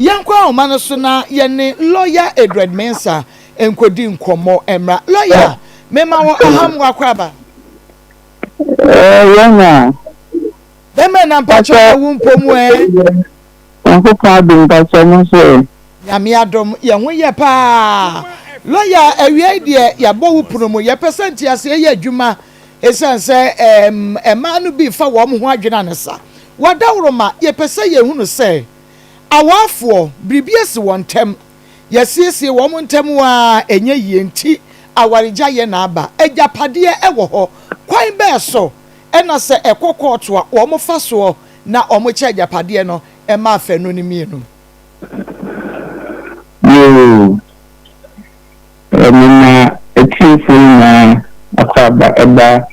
Yɛnkɔ ahoma no so na yɛne lɔya Edward Mensah nkɔdi nkɔmmɔ mmra. Lɔya, mema wo ahammoa akwaaba. Ɛɛ, yɛn a. Bɛmɛ na mpakyɛ ɛwo mpo mu ɛ. Nyankopɔn adom mpakyɛ mo nso ɛ. Nyame adom, yɛn ho yɛ paa. Lɔya, awia yi deɛ yɛabɔ wo pono mu. Yɛpɛ sɛ nteaseɛ yɛ adwuma ɛsiane sɛ ɛɛm, mmaa no bi fa wɔn ho adwene anesa. W'adaworoma, yɛpɛ sɛ yɛhunu sɛ. Awafoɔ, biribi asi wɔn ntam, yɛasiesie wɔn ntam ara a ɛnyɛ yie nti awaregyaeɛ na aba. Agyapadeɛ wɔ hɔ. Kwan bɛn so na sɛ ɛkɔ kɔɔto a wɔfa soɔ na wɔkyɛ agyapadeɛ no ma afanu no mmienu? Yoo, mema atiefoɔ nyinaa akwaaba ba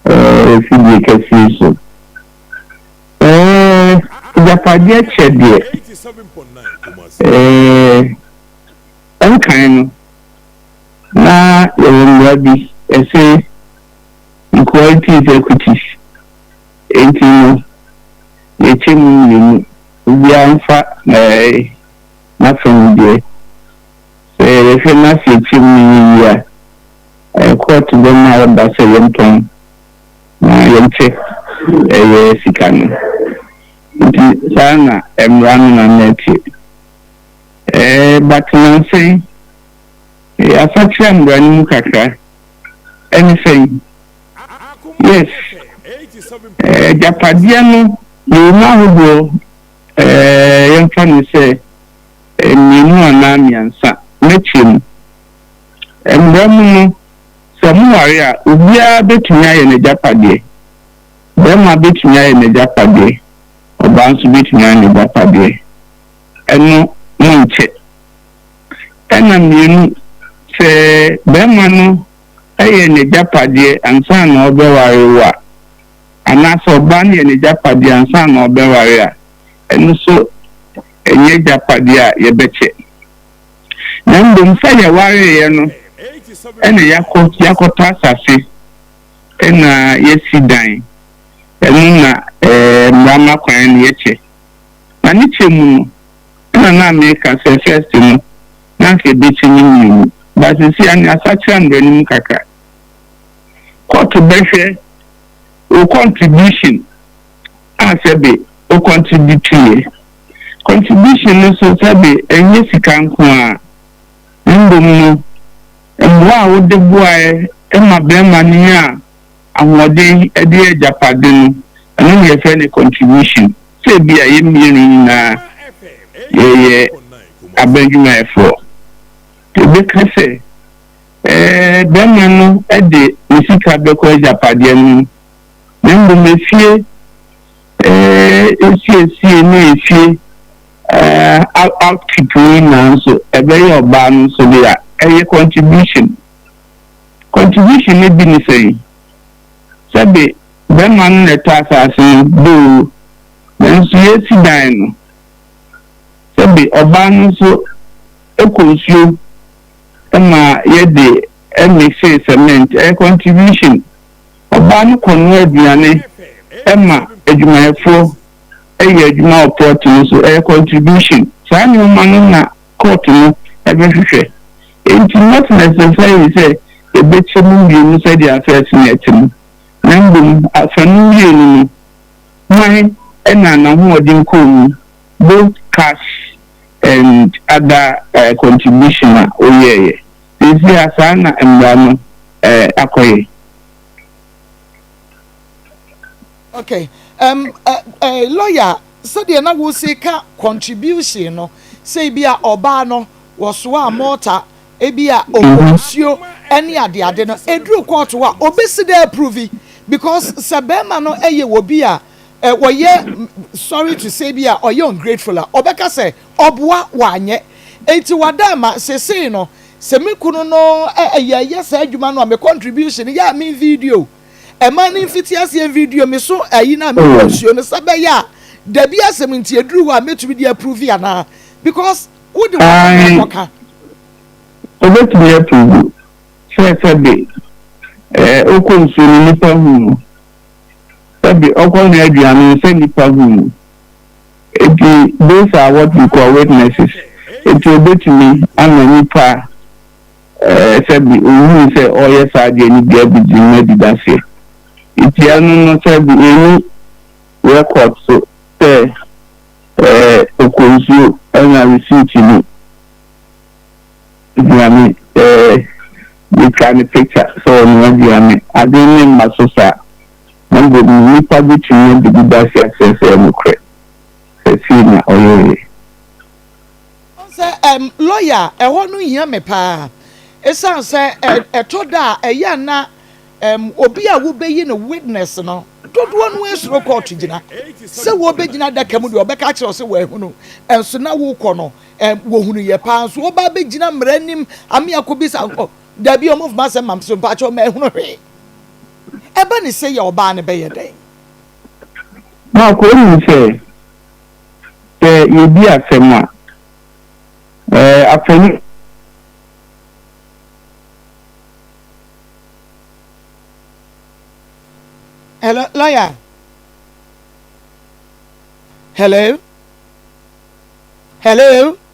afidie kɛse yi so. Eh, agyapadeɛ kyɛ deɛ, eh, ɛnkan no, na yɛwɔ mmara bi, ɛse, equality is equities, enti no, yɛkyɛ mu mmienu, obiara mfa eh, n'afa mu deɛ. Sɛ yɛhwɛ na sɛ yɛkyɛ mu no yɛ yie a, eh, kɔɔto bɛma ɔda sɛ yɛntɔn. ma yɛnte ɛyɛ sika no. Nti saa na mmara no na na ɛte. Ɛɛ but nansa yi yɛasakyera mmara no mu kakra. Ɛne sɛn? Yes, agyapadeɛ no yɛwɔ mu ahodoɔ ɛɛ yɛmfa no sɛ mmienu anaa mmiɛnsa. Mɛkyerɛ mu. Mmara mu no. Sɛ moware a, obiara bɛtumi ayɛ n'agyapadeɛ. Barima bɛtumi ayɛ n'agyapadeɛ, ɔbaa nso bɛtumi ayɛ n'agyapadeɛ. Ɛno monkyɛ. Ɛna mmienu, sɛ barima no yɛ n'agyapadeɛ ansa na ɔrebɛware wo a, anaasɛ ɔbaa no yɛ n'agyapadeɛ ansa na ɔrebɛware a, ɛno nso ɛnyɛ agyapadeɛ a yɛbɛkyɛ. na mbom sɛ yɛwareeɛ no na yɛakɔ yɛakɔtɔ asase na yɛasi dan, ɛno na mmara ma kwan no yɛ kyɛ. Na ne kyɛ mu no, na na meka sɛ first no na anka ɛbɛkyɛ ne mmienu, but seesei ano yɛasakyera mmara no mu kakra. Court bɛhwɛ wo contribution a sɛbe wo contribute yɛ. Contribution no so sɛbe ɛnyɛ sika nko ara, mbom no mboa a wode boae ma bɛrima no nyaa ahoɔden de yɛɛ agyapade no, ɛno na yɛfrɛ no contribution. Sɛ ebia yɛn mmienu nyina ara yɛyɛ aban adwumayɛfoɔ, nti yɛbɛka sɛ bɛrima no de ne sika bɛkɔ agyapadeɛ no mu, na mbom efie. Esiesie ne efie upkeep nyinaa nso ɛbɛyɛ ɔbaa no nso dea. Ɛyɛ contribution. Contribution no bi ne sɛn? Sɛbe bɛrima no na ɛtɔ asaase no boo, nanso yɛresi dan no, sɛbe ɔbaa no nso kɔ nsuo ma yɛde mixee cement, ɛyɛ contribution. Ɔbaa no kɔnoa aduane ma adwumayɛfoɔ yɛ adwuma wɔ plot no so, ɛyɛ contribution. Saa nnoɔma no na court no bɛhwehwɛ. Enti not necessarily sɛ ɛbɛkyɛ mo mmienu sɛdeɛ afɛɛse no ɛte no, na mmom afa no mmienu no, hwan na n'ahoɔden kɔɔ mu, both cash and other contribution a woyɛeɛ. Seesei saa na mmara no akɔyɛ. Ok, ɛm ɛ ɛ lɔya sɛdeɛ na wose ka contribution no, sɛ ebi a ɔbaa no wɔsoa a mɔɔta, ebi a ɔbɔ nsuo ɛne ade ade no, ɛduru court hɔ a ɔbɛsi dɛ approve because sɛ bɛɛma no yɛ obi a ɔyɛ sorry to say bi a ɔyɛ ungrateful a ɔbɛka sɛ Ɔboa wanyɛ. Enti wada ama sesei no sɛ me kunu no yɛ yɛ saa adwuma no a me contribution yɛ a me video ɛmaa ne mfiti aseɛ video me so ayi no a me kunu nsuo no sɛ bɛyɛ a dabi asɛm nti ɛduru hɔ a mɛtumi de approve anaa because wo de wɔ kɔ kɔ ka Obetumi approve sɛ sɛbe eh ɔkɔ nsuo no nipa hu no sɛbe ɔkɔ noa aduane no sɛ nipa hu no. Enti, those are what we call witnesses. Enti obetumi ama nipa a sɛbi ohuu sɛ ɔreyɛ saa adeɛ no bi abegye mu adi dase. Enti ɛno no sɛbi enni record so sɛ ɔkɔ nsuo ɛna receipt no hia me sɛ metwa no picture sɛ ɔnoa dua me. Adwene no mma so saa. na mbom nyimpa bi tum nya biribi da ase akyerɛ sɛ ɔyɛ nokorɛ, sɛ sei na ɔyɛeɛ. Ɔn sɛ ɛm lɔya a ɛhɔ no hia me paa esiane sɛ ɛm ɛtɔ da a ɛyɛ a na ɛm obi a wobeyi no witness no dodoɔ no ara suro kɔɔto gyina. Sɛ wɔrebɛgyina adaka mu deɛ wɔbɛka akyerɛ wo sɛ wɔahunu nso na worekɔ no ɛm wɔhunuiɛ paa nso woba abɛgyina mmara anim ame akɔbisa nkɔ daabi wɔmfa asɛm ma me so mpakyɛw mahunu hwee. Ɛba ne sɛ yɛ ɔbaa no bɛyɛ dɛn? Mark, Wonim sɛ, sɛ yɛdi asɛm a, afanu. Hello, lawyer. Hello? Hello?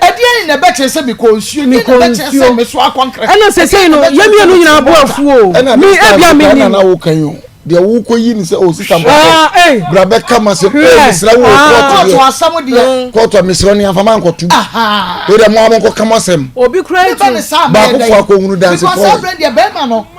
ɛdeɛn na ɛbɛkyerɛ sɛ mekɔ nsuo ɛdeɛn na ɛbɛkyerɛ sɛ meso akɔ nkrɛ ɛna sɛsɛi no yɛ mmienu nyinaa bo afuo me abia menim na woka yi o deɛ wokɔ yi ne sɛ o oh, sista ah, bɔkɔ eh. bra bɛka ma sɛ o eh, mesrɛ wo ah. kɔɔto asɛm deɛ mm. kɔɔto a mesrɛ ne amfa mankɔto o deɛ mo a monkɔka mo asɛm baakofo akɔhunu dansefoɔ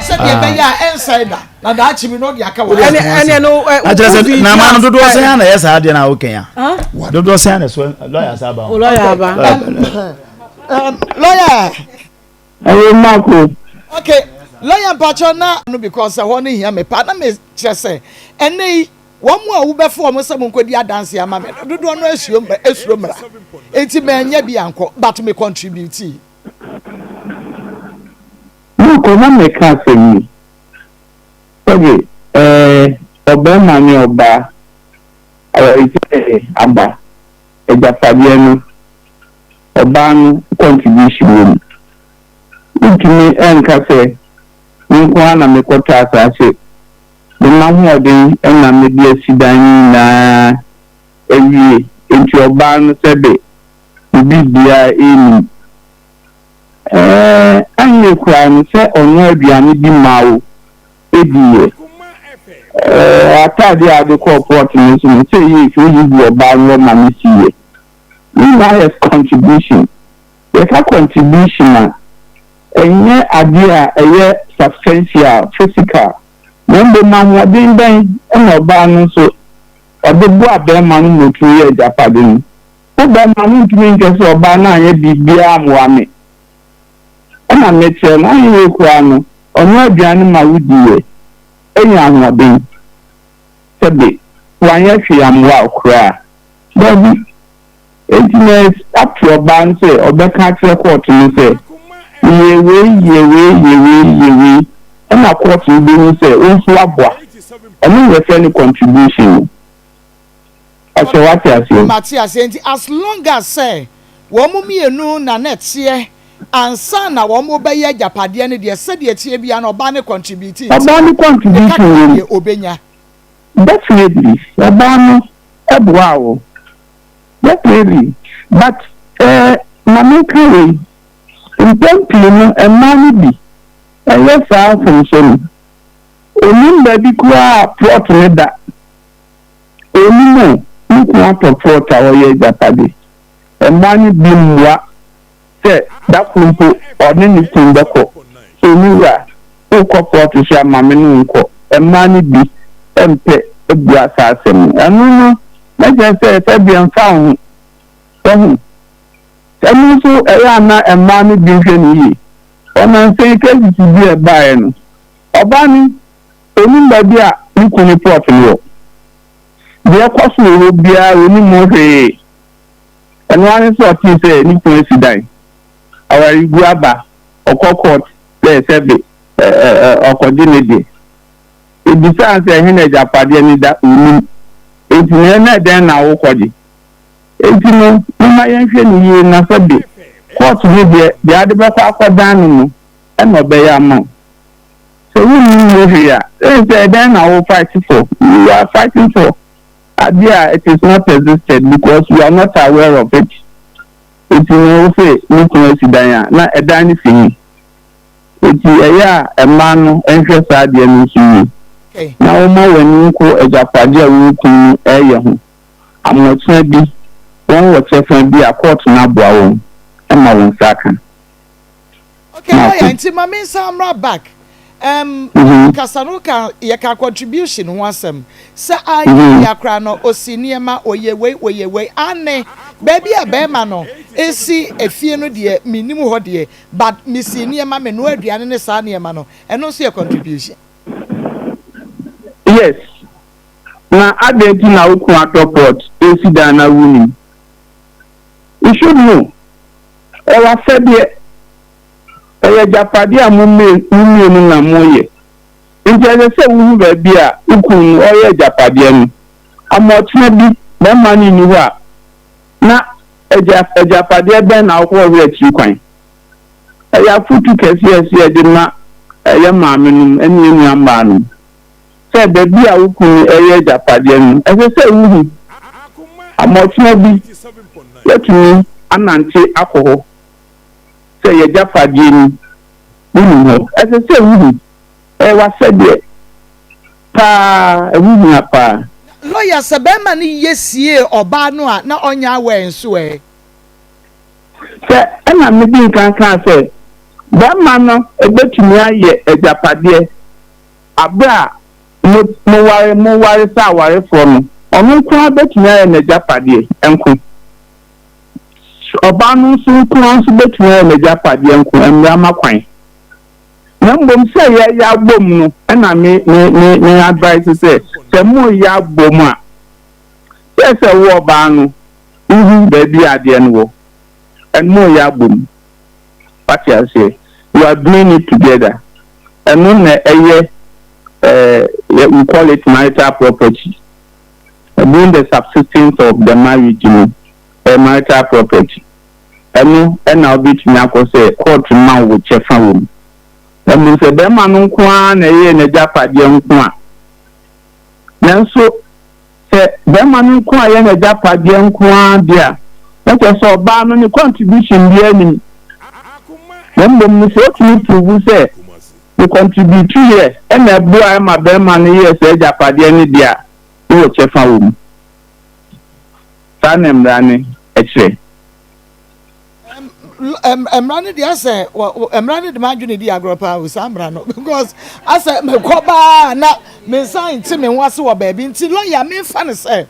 sɛdeɛ ɛbɛyɛ a ɛnsɛe da na daakye bi na ɔde aka wɔ ɛne ɛne no akyerɛ sɛ na ama no dodoɔ sɛn ana ɛyɛ saa deɛ na wokɛn a dodoɔ sɛn ana so lɔya sa aba lɔya aba lɔya ɛyɛ mako okay lɔya mpakyɛ na no because ɛhɔ no hia me paa na mekyerɛ sɛ ɛnɛ yi wɔn mu a wobɛfo wɔn sɛ monkɔdi adanse ama me no dodoɔ no asuo mmra asuo mmra enti manyɛ bi ankɔ but me contribute Makɔ na mɛka asɛm yi. Sɛbe, ɛɛ, ɔbarima ne ɔbaa awaregyaeɛ aba, agyapadeɛ no, ɔbaa no contribution wɔ mu. Wontumi nka sɛ, me nko ara na mekɔtɔ asaase, me m'ahoɔden na mede asi dan no nyinaa awie, enti ɔbaa no sɛbe, ne biribiara nnim. Ɛɛ, ɛnyɛ koraa ne sɛ ɔnoaa aduane bi maa wo diiɛ. Ɛɛ, atadeɛ a wode kɔɔ port no nso no, sɛ ɛyɛ firi wode gu ɔbaa no hɔ ma no siiɛ. Ne nyinaa yɛ contribution. Yɛka contribution a, ɛnyɛ adeɛ a ɛyɛ substantial, physical, na mmom ahoɔden bɛn na ɔbaa no nso ɔde boaa barima no ma ɔtumi yɛɛ agyapade no. Wo bɛrima no ntumi nka sɛ ɔbaa no anyɛ biribiara ammoa me. Ɛna me kyerɛ no ayeyi koraa no ɔnoa aduane ma wo di yɛ nya ahoɔden. Sɛ de wanyɛ hwee ammoa wo koraa a. Dabi. Enti na ato ɔbaa no sɛ ɔbɛka akyerɛ kɔɔto no sɛ yɛ wei yɛ wei yɛ wei yɛ wei ɛna kɔɔto no bɛhu sɛ wo nso woaboa. Ɛno na yɛfrɛ no contribution no. Ɔsɛ wate aseɛ. Mate aseɛ nti as long as sɛ wɔn mmienu na na ɛteɛ ansa na wɔn bɛyɛ agyapadeɛ no deɛ sɛdeɛ ɛteɛ biara no ɔbaa no contribute nti Ɔbaa no contribute wɔ mu. Ne kakra deɛ ɔbɛnya. Definitely ɔbaa no boaa wo definitely but eh ma me nka wei mpɛn pii no mmaa no bi ɛyɛ saa mfomsoɔ no ɔnim baabi koraa a plot no da. Onim o, ne kunu atɔ frɔt a ɔyɛ agyapade. Mmaa no bi mmoa sɛ da koro mpo ɔne ne kunu bɛkɔ. So me wura, worekɔ frɔt so a, ma me ne wo nkɔ? Mmaa no bi mpɛ bua saa asɛm no. Ɛno no, na kyerɛ sɛ sɛdeɛ ɛmfa wo ho. Wahu? Ɛno nso, ɛyɛ a na mmaa no bi nhwɛ no yie. Ɔnansa yi, crisis bi a ɛbaeɛ no, ɔbaa no Onim baabi a ne kunu no plot no wɔ. Deɛ ɛkɔ so wɔ hɔ biara onim ho hwee. Ɛno ara ne sɛ ɔtee sɛ ne kunu asi dan, awaregu aba, ɔkɔ court sɛ sɛbe ɔkɔgye ne deɛ. Obisaa no sɛ ɛhe na agyapadeɛ no da, onim. Enti na ɛnɛ dɛn na wokɔgye? Enti no momma yɛnhwɛ no yie na sɛbe court no deɛ deɛ ade bɛkɔ akɔdan no no na ɔbɛyɛ ama wo. Sɛ wunnim ho hwee a, then sɛ ɛdɛn na wo fight for? You are fighting for ade a it is not existed because you are not aware of it. Enti no wo se me kunu asi dan a, na ɛdan no si he? Enti ɛyɛ a ɛmma no nhwɛ saa adeɛ no nso yie na woma w'ani nko agyapadeɛ a wo kunu no ɛɛyɛ ho. Amoɔkyena bi wɔn wɔ kyɛfa bi a court no aboa wɔn ma wo nsa aka. Okay, oh yeah, nti ma mensa mmra back. Um, mm -hmm. kasa no ka yɛka contribution ho asɛm sɛ anyɛ mm-hmm. bia koraa no ɔsi nneɛma ɔyɛ wei ɔyɛ wei ane baabi a bɛrima no ɛsi efie no deɛ menim hɔ deɛ but mesi nneɛma menoa aduane ne saa nneɛma no ɛno nso yɛ contribution yes na adɛn nti na wokun atɔ pot ɛsi dan no awu nim Nso hu, ɔyɛ asɛdeɛ, ɔyɛ agyapadeɛ a mo mmienu na moyɛ. Enti ɛsɛ sɛ wohu baabi a wo kunu no ɔreyɛ agyapadeɛ no, ama ɔkyena bi barima no nni hɔ a, na agya agyapadeɛ bɛn na wokɔhwehwɛ akyiri kwan. Ɛyɛ afotu kɛseɛ a ɛsɛ sɛ yɛde ma yɛn maamenom ne yɛn nuammaanom. sɛ baabi a wo kunu reyɛ agyapadeɛ no, ɛsɛ sɛ wohu amoatena bi, woatumi anante akɔ hɔ sɛ y'agyapadeɛ ni, wonim hɔ. Ɛsɛ sɛ wohu. Ɛyɛ w'asɛdeɛ pa ara, ɛho hia pa ara. Lɔya, Sɛ barima no yɛ siee ɔbaa no a, na ɔnyɛ aware nso ɛ? Sɛ, ɛna medi nkan kaa sɛ, barima no bɛtumi ayɛ agyapadeɛ. Bere a mo, moware, moware sɛ awarefoɔ no, ɔno nko ara bɛtumi ayɛ n'agyapadeɛ nko. Ɔbaa no nso nko ara nso bɛtumi ayɛ n'agyapadeɛ nko, mmara ma kwan. Na mmom sɛ yɛreyɛ abom no na me, me, me, me advise sɛ, sɛ moreyɛ abom a, sɛ, sɛ wo ɔbaa no, wohu baabi a adeɛ no wɔ, ɛn, moreyɛ abom. wate aseɛ you are doing it together ɛno na ɛyɛ eh, we call it marital property being the subsistence of the marriage no eh, marital property ɛno ɛna wobɛtumi akɔ sɛ court ma wo kyɛfa wɔ mu ɛmu sɛ bɛrima no nko ara na ɛyɛ n'agyapadeɛ nko a nanso sɛ bɛrima no nko ara yɛ n'agyapadeɛ nko ara deɛ a, na kyerɛ sɛ ɔbaa no ne contribution biara nnim. Na mmom no, sɛ ɔtumi prove sɛ ne contributeeɛ na ɛboaeɛ ma bɛrima no yɛɛ saa agyapadeɛ no deɛ a, na ɔwɔ kyɛfa wɔ mu. Saa na mmara no kyerɛ. mmara no deɛ asɛ mmara no de m'adwene di agorɔ paa o saa mmara no because asɛ mekɔ baa na me nsa nte me ho ase wɔ baabi nti lɔya mefa no sɛ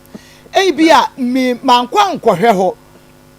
ebi a me mankɔ ankɔhwɛ hɔ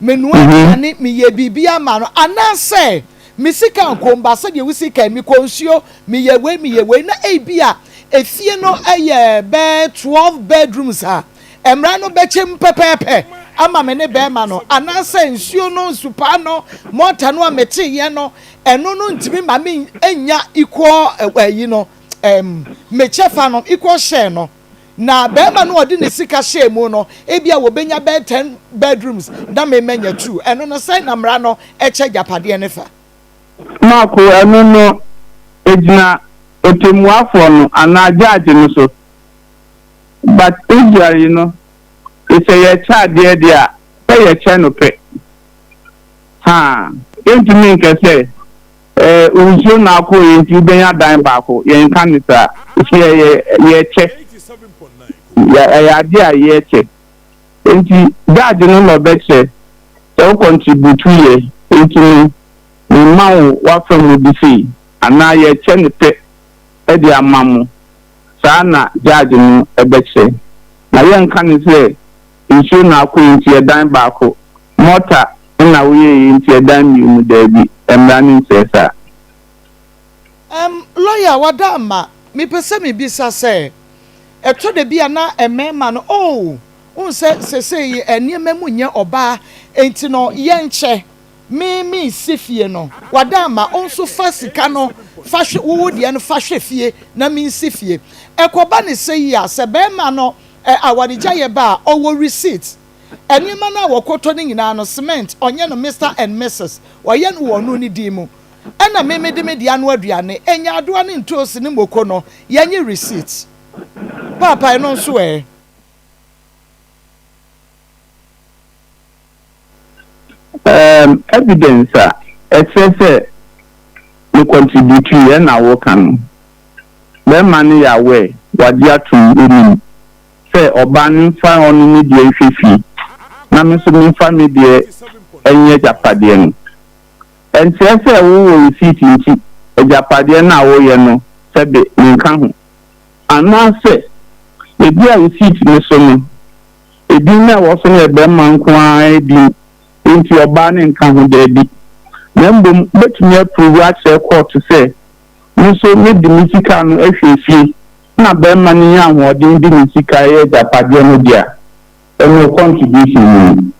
menua mhm. aduane meyɛ biribi ama no anaasɛ me sika nkom ba sɛdeɛ wo sika mekɔ nsuo meyɛ wei meyɛ wei na ebi a efie no yɛ bɛɛ twelve bedrooms a. Mmara no bɛkyem pɛpɛɛpɛ ama me ne bɛɛma no anaasɛ nsuo no nsupaa no mɔta no a metee yɛ no ɛno no ntumi ma me nnya equal ayi no ɛɛm me kyɛfa no equal share no na bɛɛma no a ɔde ne sika hyɛɛ mu no ebi a wɔbɛnya bɛɛ ten bedrooms na me manya two ɛno no sɛn na mmara no ɛkyɛ agyapadeɛ no fa. Mako, Ɛno no ɛgyina ɔtɛmmuafoɔ no anaa judge no so. But usually no sɛ yɛkyɛ adeɛ deɛ a sɛ yɛkyɛ no pɛ haa yɛntumi nka sɛ ɛɛ nsuo na akɔ yɛ nti wobɛnya dan baako yɛnka no saa nti ɛyɛ yɛkyɛ ɛyɛ adeɛ a yɛkyɛ nti judge no na ɔbɛkyɛ sɛ wo contribute yɛ nti no memma wo w'afa mu de sei anaa yɛkyɛ no pɛ de ama mo. saa na gyaagy no bɛkyerɛ. Na yɛnka no sɛ nsuo na akɔ nti ɛdan baako, mɔta na woyɛeɛ nti ɛdan mmienu, daabi, mmara no nkyerɛ saa. Erm lawyer wada ama me pɛ sɛ me bisa sɛ ɛtɔ da bi a na mmarima no oh wohu sɛ sesei nneɛma mu nyɛ ɔbaa nti no yɛnkyɛ me me nsi fie no wada ama wo nso fa sika no fa hwe wo wo deɛ no fa hwe fie na me nsi fie ɛkɔba ne sɛ yi a sɛ bɛɛma no ɛ awaregya yɛ ba a ɔwɔ receipt ɛnoɔma no a wɔkɔtɔ no nyinaa no cement ɔnyɛ no Mister and Missus ɔyɛ no wɔ ɔno ne din mu ɛna me me de me deɛ ano aduane ɛnyaadoa ne ntoosi ne moko no yɛ nye receipt paapa ɛno nso ɛ. Um, evidence a ɛkyerɛ sɛ me contributui ɛ na woka no. Bɛrima no yɛ aware, wagye atom, onim sɛ ɔbaa no mfa ɔno ne deɛ nhwɛ fie na me nso memfa me deɛ nyɛ agyapadeɛ no. Ɛnkyerɛ sɛ wowɔ receipt nti agyapadeɛ no a woyɛ no sɛbe menka ho. Anaasɛ ebia receipt no so no, Edin no a ɛwɔ so no yɛ barima nko ara din, enti ɔbaa no nka ho. Dabi. Na mmom wobetumi apuruvu akyerɛ kɔɔto sɛ, Me nso mede me sika no ahwie fie na barima no nya ahoɔden de ne sika a ɛyɛ agyapadeɛ no de a, ɛno contribution no ni.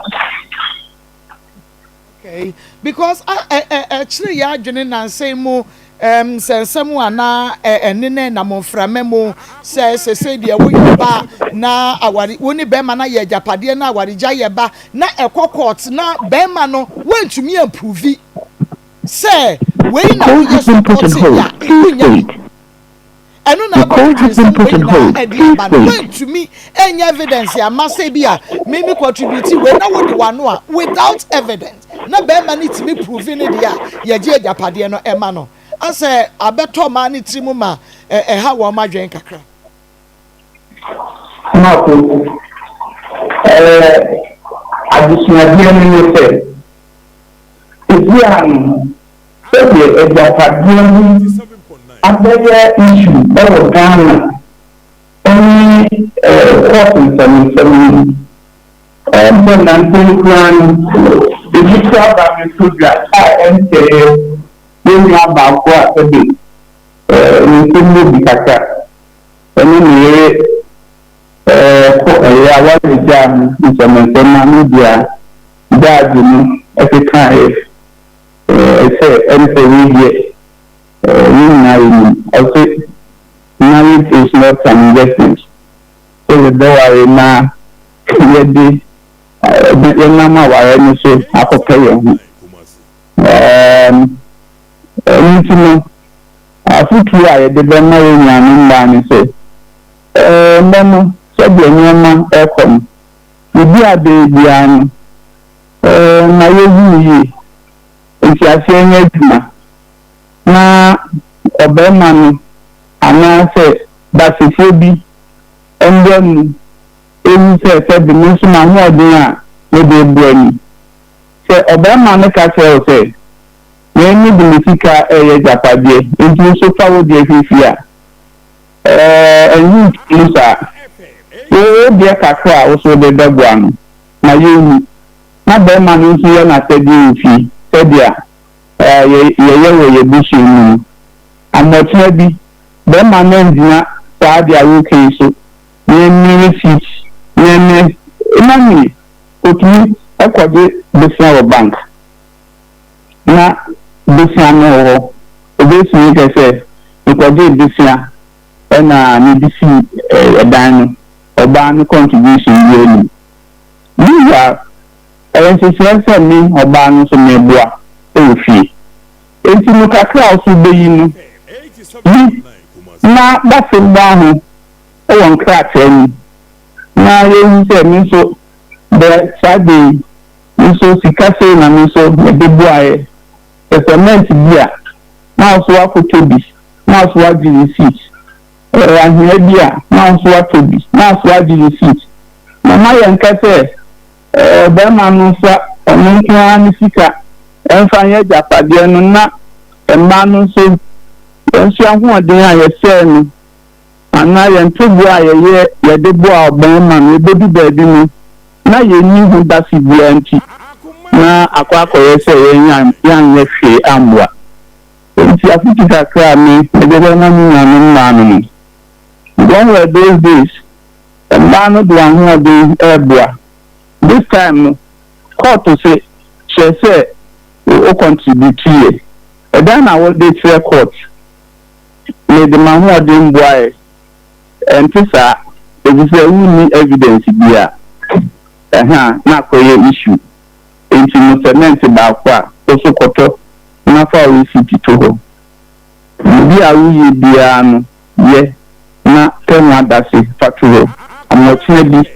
Okay, because a ɛ ɛ ɛkyerɛ yɛ adwene nansa yi mu ɛm sɛ nsɛm a na ɛ ɛne na ɛnam mframa mu sɛ sɛsɛ deɛ woyɛ ba na awari wo ne bɛrima na yɛ agyapadeɛ na awaregya yɛ ba na ɛkɔ court na bɛrima no wantumi ampuvi sɛ wei na woyɛ supporting yɛ a wonya Ɛno na ɛbɔ me ansɛm wei nyinaa ɛde aba no mantumi ɛnyɛ evidence ama sɛ bi a me me contribute wei na wode wano a without evidence na bɛɛma no tumi prove ne deɛ a yɛgye agyapadeɛ no ɛma no asɛ abɛtɔ ɔmaa no tiri mu ma ɛha wɔn adwene kakra. Maako ɛɛ adesuadeɛ no ne sɛ ebi a no. Sɛdeɛ agyapadeɛ ho abɛyɛ issue wɔ Ghana ne court nsɛmnsɛm no mu. Ɛyɛ sɛ nanten koraa no ebi kora ba bɛtɔ dwa a ɛnsɛɛ yɛn nua baako a sɛbe ne nsɛm mu bi kakra ɛne ne yere kɔ ɛyɛ a wɔabɛgyaa no nsɛmnsɛm a media gyaagye no kekaeɛ. Ɔse ɛmfɔ wei deɛ yɛn nyinaa yɛnim. Ɔse marriage is not an investment sɛ yɛbɛware na yɛde yɛnam awareɛ no so akɔpɛ yɛn ho. Ɛɛm ɛno nti no afotuo a yɛde bɛma yɛn nuanom mmaa ne sɛ, ɛɛnnɛ no sɛdeɛ nneɛma rekɔ no, biribi a bɛyɛ biara no, Ɛmma yɛnhu no yie. Nteaseɛ nyɛ adwuma, na ɔbarima no anaasɛ baasɛfie bi mmra mu nhu sɛ sɛbe me nso m'ahoɔden a mede reboa ni. Sɛ ɔbarima no ka kyerɛ wo sɛ, Me mede me sika reyɛ agyapadeɛ, enti wo nso fa wo deɛ hwɛ fie a, ɛɛ, ɛho nhia mu saa. Wo deɛ kakra a wo nso wode bɛboa no. na yɛnwu, na barima no nso yɛ n'asɛdeɛ mfi sɛdeɛ yɛyɛ wɔ yɛn abusua mu no. Amoɔtena bi, barima no angyina saa adeɛ a woka yi so, na ɛnne receipt na ɛnne na ne ɔtumi kɔgye bosea wɔ bank, na bosea no wɔ hɔ, ɔbɛsua kɛ sɛ mekɔgyee bosea na mede sii dan no. ɔbaa no contribution biara nnim. Meanwhile, ɛyɛ nhyehyɛe sɛ me, ɔbaa no nso meboa wɔ fie. Enti no kakra a ɔso beyi no bi na dafe mmoa ho wɔ nkrataa mu na yɛahu sɛ me nso berɛ saa da yi me nso sika sei na me nso mede boaeɛ. Sɛ cement bi a, na ɔso akɔtɔ bi, na ɔso agye receipt. Ɔyɛ anhwea bi a na ɔso atɔ bi, na aso agye receipt. Na ma yɛnka sɛ ɔbarima no mfa ɔno nko ara ne sika mfa nyɛ agyapadeɛ no na mmaa no nso yɛnso ahoɔden a yɛsɛɛ no anaa yɛn ntoboa a yɛyɛ yɛde boa ɔbarima no ɛbɛdu baabi no na yɛnni ho dase biara nti na akɔ akɔyɛ sɛ yɛn yɛanyɛ hwee ammoa. Enti afotu kakra a me de bɛma me nuanom mmaa no ni, Don't were those days mmaa no de ahoɔden reboa, this time no kɔɔto se kyerɛ sɛ wo contribute yɛ, ɛdan na wo de kyerɛ court, me de m'ahoɔden boaɛ, ɛnte saa efisɛ wo nni evidence biaa, ɛhaa na akɔyɛ issue. Enti no sɛmɛnte baako a, wo nso kɔtɔ na fa wo resiti to hɔ. Biribi a woyɛ biara no, yɛ na tɛ ho adase fa to hɔ. Ama ɔkyena bi,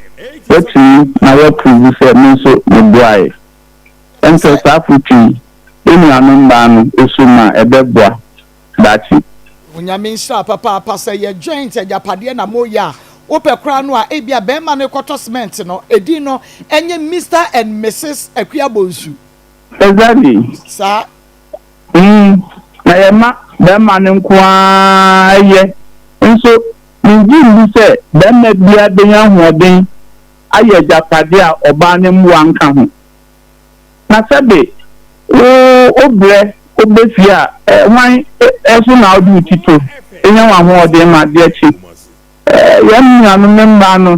woatumi na woapuruvu sɛ me nso meboaeɛ. Ɛntɛ saa afotu yi, wo nuanom mmaa no, ɛso mu a, ɛbɛboa. daakye. Onyame nhyira papaapa sɛ yɛ joint agyapadeɛ na mo yɛ a wopɛ koraa no a ebia bɛɛma no kɔtɔ cement no edin no ɛnyɛ Mister and Misses Akua Bonsu. Exactly. Saa. Umm na yɛ ma bɛɛma no nko ara yɛ nso me ngye ndi sɛ bɛɛma biara benya ahoɔden ayɛ agyapadeɛ a ɔbaa no mmoa nka ho. Na sɛ de wo wo berɛ woba fie a, hwan so na wode wo ti to? Nya w'ahoɔden ma adeɛ kye. Yɛn nuanom mmaa no,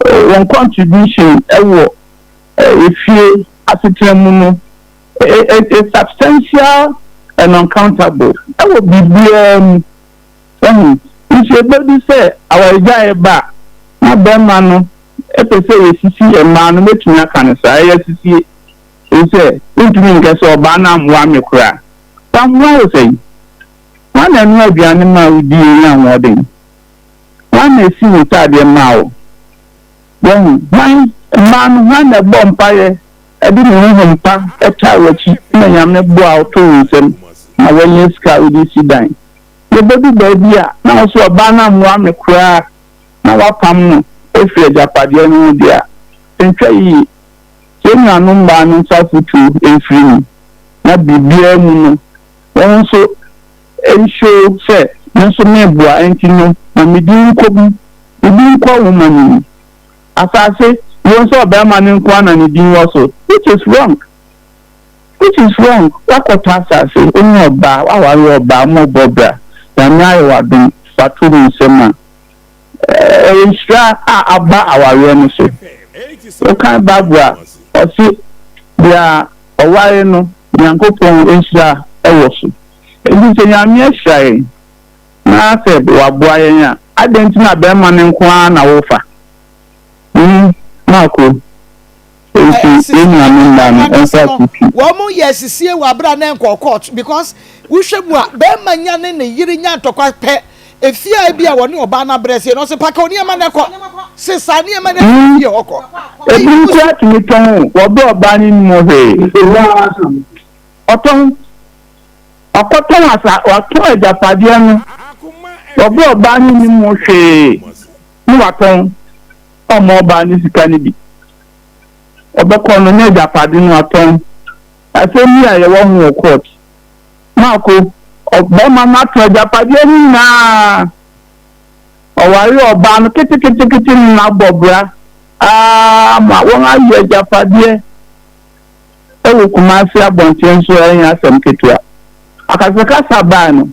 wɔn contribution wɔ efie asetena mu no, is substantial and uncountable wɔ biribiara mu. Wahu? Nso ebedu sɛ awaregyae reba a, na barima no pɛ sɛ yesisi mmaa no, metumi aka no saa, ɛyɛ sisie, efisɛ wontumi nka sɛ ɔbaa no ammoa me koraa. Wammoa wo sɛn? Hwan na ɛnoa aduane maa wo dii wo nyaa ahoɔden? Hwan na esi wo ntaadeɛ maa wo? Wahu? Hwan? Mmaa no, hwan na ɛbɔɔ mpaeɛ de ne honhom pa twaa w'akyi ma Nyame boaa wo too wo nsam ma woanya sika a wode resi dan? Yebedu baabi a, na ɔso ɔbaa no ammoa me koraa na wɔapam no afi agyapadeɛ no ho deɛ a, nhwɛ yie. Yɛn nuanom mmaa no nsa afotuo mfiri mu, na biribiara mu no, wɔn nso nhyoo sɛ me nso meboa, enti no ma me din nkɔ mu, me din nkɔ nwoma no mu. Asase, yei nso ɔbarima no nko ara na ne din wɔ so, which is wrong. Which is wrong, wakɔtɔ asase, wonye ɔbaa, waware ɔbaa, mo rebɔ bra, Nyame ayɛ wo adom, fa to wo nsam a, ɛyɛ nhyira a aba awareɛ no so. Wokan Bible a, ɔse deɛ ɔware no, Nyankopɔn nhyira wɔ so. Enti sɛ Nyame ahyira yɛn, na sɛ waboa yɛn a, adɛn nti na bɛɛma no nko ara na wofa? Him, Marko. na ɛsi so na ɛma mmarima no sɛ no wɔn yɛ asisie wɔ abere a na ɛnkɔɔ court because wohwɛ mu a bɛrima nya ne ne yere nya ntɔkwa pɛ efie a ebi a wɔne ɔbaa no abrɛ sie no ɔsɛ paka onneɛma no kɔ sesa nneɛma no ɛfiri fie hɔ kɔ. ebi nso atumi tɔn o wɔbɛ ɔbaa no nim hwee ɔtɔn ɔkɔtɔn asa ɔtɔn agyapadeɛ no wɔbɛ ɔbaa no nim hwee. ne watɔn ɔmo ɔbaa ne sika no bi. Ɔbɛkɔ no na agyapade no atɔn. Asɛm bi a yɛwɔ ho wɔ court. Mako, ɔbarima no atɔn agyapadeɛ no nyinaa. Ɔwaree ɔbaa no ketekete no na abɔ bra aa ma wɔn ayi agyapadeɛ ɛwɔ Kumasi abɔnten so ɛnyɛ asɛm ketewa. Akasakasa baa no,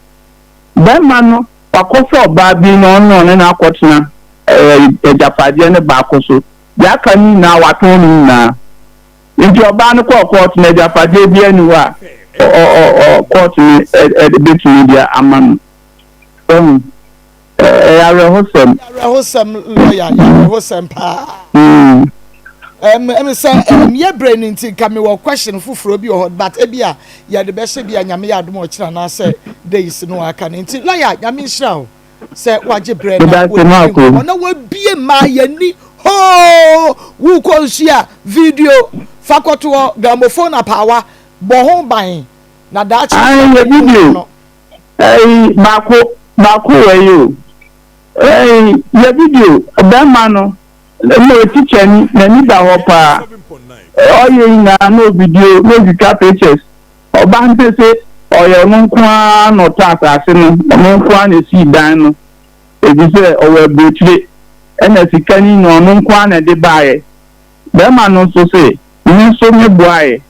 barima no. Wakɔfa ɔbaa bi na ɔne ɔne no akɔtena agyapadeɛ no baako so. Deɛ aka no nyinaa, watɔn ne nyinaa. Enti ɔbaa no kɔɔ kɔɔto no, agyapadeɛ biara nni hɔ a kɔɔto no bɛtumi de ama no. Wahu? Ɛyɛ awerɛhosɛm. Ɛyɛ awerɛhosɛm, lɔya, ɛyɛ awerɛhosɛm paa. Ɛm, ɛm sɛ ɛm yɛ brɛ no nti nka mewɔ question foforɔ bi wɔ hɔ, but ebia Yɛde bɛhyɛ bia Nyame yɛ adom a ɔkyena anaasɛ days no a aka no nti lawyer Nyame nhyira wo sɛ wagye berɛ na w'ani di nkɔmmɔ na w'abie maa y'ani hoo wo kɔ nsuo a video fa kɔto hɔ gramophone apaawa bɔ ho ban na daakye Ae yɛ video no Ae baako baako wɔ yi o Ae yɛ video bɛɛma no. Na mmom tikyani nani da hɔ paa ɔyɛ nyinaa no video na otwitwa pictures ɔba ne se ɔyɛ ɔno nko ara na ɔtɔ asase no ɔno nko ara na esii dan no efisɛ ɔwɔ abrokyire ɛna sika no nyinaa ɔno nko ara na ɛde baeɛ bɛrima no nso se me nso me boaeɛ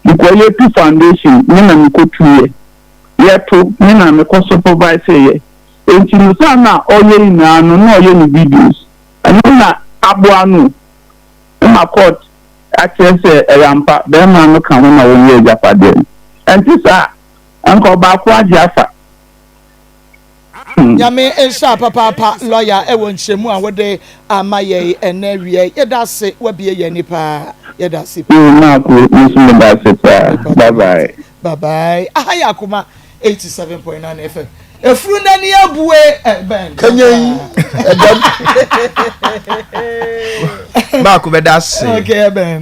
mekɔyɛ tu foundation me na mekɔ tuiɛ yɛ to me na mekɔ superviseeɛ enti no saa na ɔyɛ nyinaa no na ɔyɛ ne videos. Ɛno na aboa no ma court akyerɛ sɛ ɛyɛ ampa bɛɛma no ka ho na wɔnyɛ agyapadeɛ no. Ɛnte saa a, anka ɔbaako agye afa. Hmm. Nyame nhyira papaapa lɔya ɛwɔ nkyerɛmu a wode ama yɛn ɛnɛ awia yi. Yɛda ase wabie yɛn ani paa. Yɛda ase paa. Yɛn mmaa kuro, me nso meda ase paa. Bye bye. Bye bye. Aha yɛ akoma. 87.9 FM. Efuru n'ani abue ɛbɛn. Kanyan ɛdɛm. Baako bɛda ase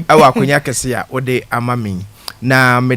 ɛwɔ akonnwa kɛse a wode ama me na mede